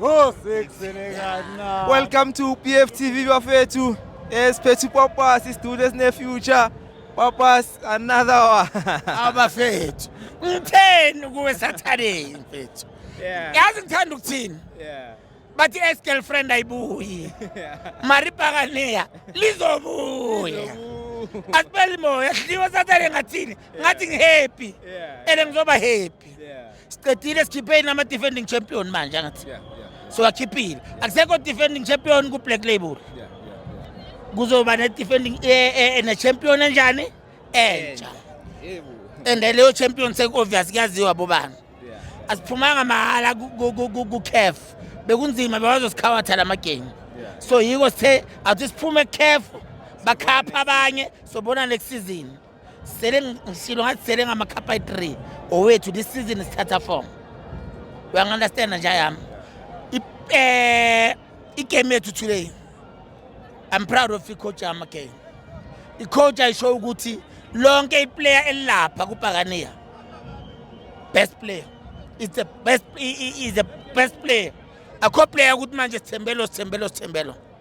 Oh, Welcome to PF TV bafethu. Esiphethe eh, uPapas isidudu esine future. Papas another one. Abafethu. Ngitheni kuwe sathaneni mfethu. Yeah. Yazi ngithanda ukuthini? Yeah. Bathi ex girlfriend ayibuyi. Maribhakaneya lizobuya. Asibeli moya, sidliwa sathane ngathini? Ngathi ngihappy. Yeah. Ene ngizoba happy. Siqedile sikhipheni ama defending champion manje angathi. Yeah, yeah, yeah. So akhiphile. Akusekho defending champion ku Black Label. Yeah, yeah, Kuzoba ne defending eh, eh, eh ne champion enjani? Entsha. Yebo. And leyo champion sek obvious kuyaziwa bobani. Asiphumanga mahala ku CAF. Bekunzima bewazosikhawathela lama game. So yiko sithe athi siphume CAF bakhapha abanye sobona next season. sele ngishilo ngathi sele ngamakhapha ayi-three owethu this season sithatha form uyangi-understanda nje yami eh, igame yethu today i'm proud of icoach yami again icoach ayisho ukuthi lonke iplayer elilapha kubhakaniya best player is the best is the best player akho player ukuthi manje sithembelo sithembelo sithembelo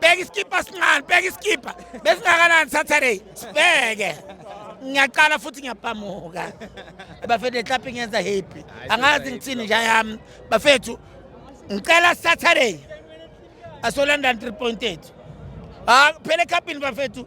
bheka isikibha sincane bheka isikibha besingakanani saturday sibheke ngiyaqala futhi ngiyapamuka bafethu ehlaphi ngenza happy angazi ngithini nja yami bafethu ngicela saturday asolanda 3.8 ah phela ekhapini bafethu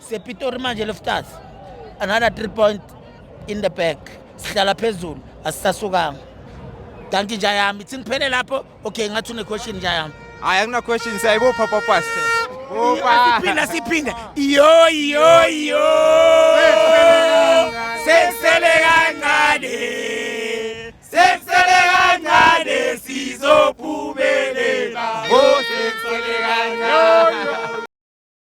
Sepitori manje Loftus. Another 3 point in the back. Sihlala phezulu asisasukanga. Danki nja yami. Ithi ngiphele lapho. Okay ngathi une question nja yami. Hayi akuna question siyayibopha papa. Opa. Siphinda siphinda. Yo yo yo. Sesele kancane. Sesele kancane sizophumelela. Oh sesele kancane.